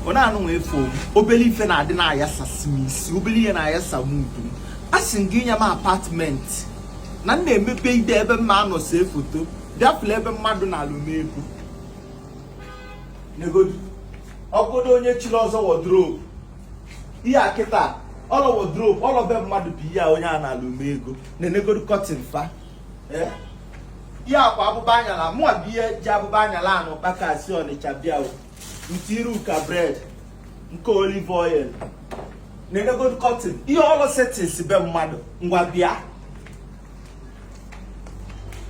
ọ na-anụ nwa efe obele ife na-adị na-ayasasị m isi obele ihe na-ayasa m udu m a sị m gị nye m apartment na m na-eme video ebe m ma-anọ see foto bịa fụlụ ebe mmadụ naalụ m ego negodu ọgọdọ onye chiri ọzọ wardrobe ihe a kịta ọlọ wardrobe ọlọ be mmadụ bụ ihe a onye a naalụ m ego na-enegodu curtain fa ihe akwa abụba anyala mụa bụ ihe ji abụba anyala anụ kpaka si Ọnịcha bịa o nke iru ka bread nke olive oil na-enegodu curtain ihe ọlụ settings be mmadụ ngwa bịa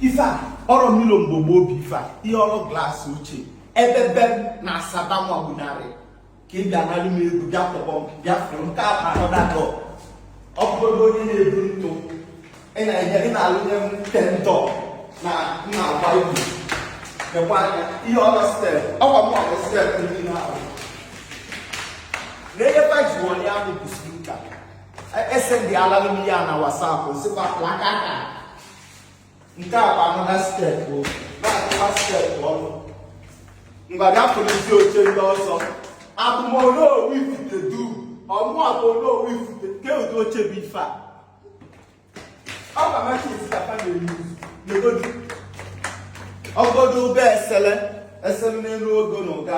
ife a ọrọ mirror mgbogbo obi ife a ihe ọrụ glass ochie ebe be m na Asaba nwabunarị ka ị bịa naalụ m ego bịa tọgbọ m bịa fụrụ m ka a na-ahụ dakọ ọgọdọ onye na-ebu ntụ ị na-enye ị na-alụnye m tentọ na nna agba egwu nekwa anya ihe ọrọ step ọkwa m ọrọ step ndị na-ahụ na ihe baji wọnye ahụ bụ spika ese ndị alalụ m ya na WhatsApp sịkwa plaka aka nke a bụ another step na-akụwa step ọnụ ngwa bịa fụrụzi oche ndị ọzọ abụ m Onowu Ifitedunu abụ m Onowu Ifite kee ụdị oche bụ ife a ọ bụ amaghị isi ka fa na-eyi negodu ọgọdọ ụgbọ esele esele n'elu ogo na ụga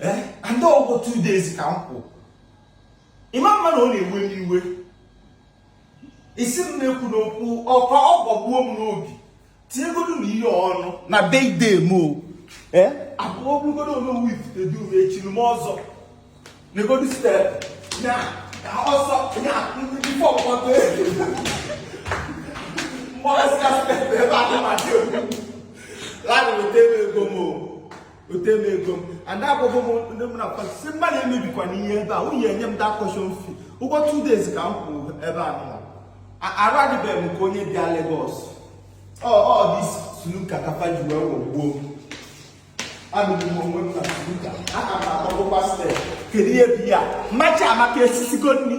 eh, and ụgwọ two days ka m kwụ ị ma-ama na ọ na-ewe m iwe isi m na-ekwu n'okwu ọkwa ọ gbagbuo m n'obi tinyegodu na ihe ọnụ na birthday m o eh? abụọ bụrụgodu Onowu Ifitedunu echiri m ọzọ negodu step na ọsọ na ndị fọkpọta ebe mgbe ọsọ step ebe a na-amadị egwu laghachi ego m o ote m ego m and agwago m ndị mụ na fa sị mmadụ emebikwana ihe ebe a nwunye enye m the caution fee ụgwọ two days ka m kwụ ebe a nọ arụ adịbeghị m ka onye bịa Lagos ọ ọ dị snooker ka fa ji wee wogbuo m anụrụ m onwe m na snooker aka m na-akpọgokwa step kedu ihe bụ ya ma Chiamaka esisigo nri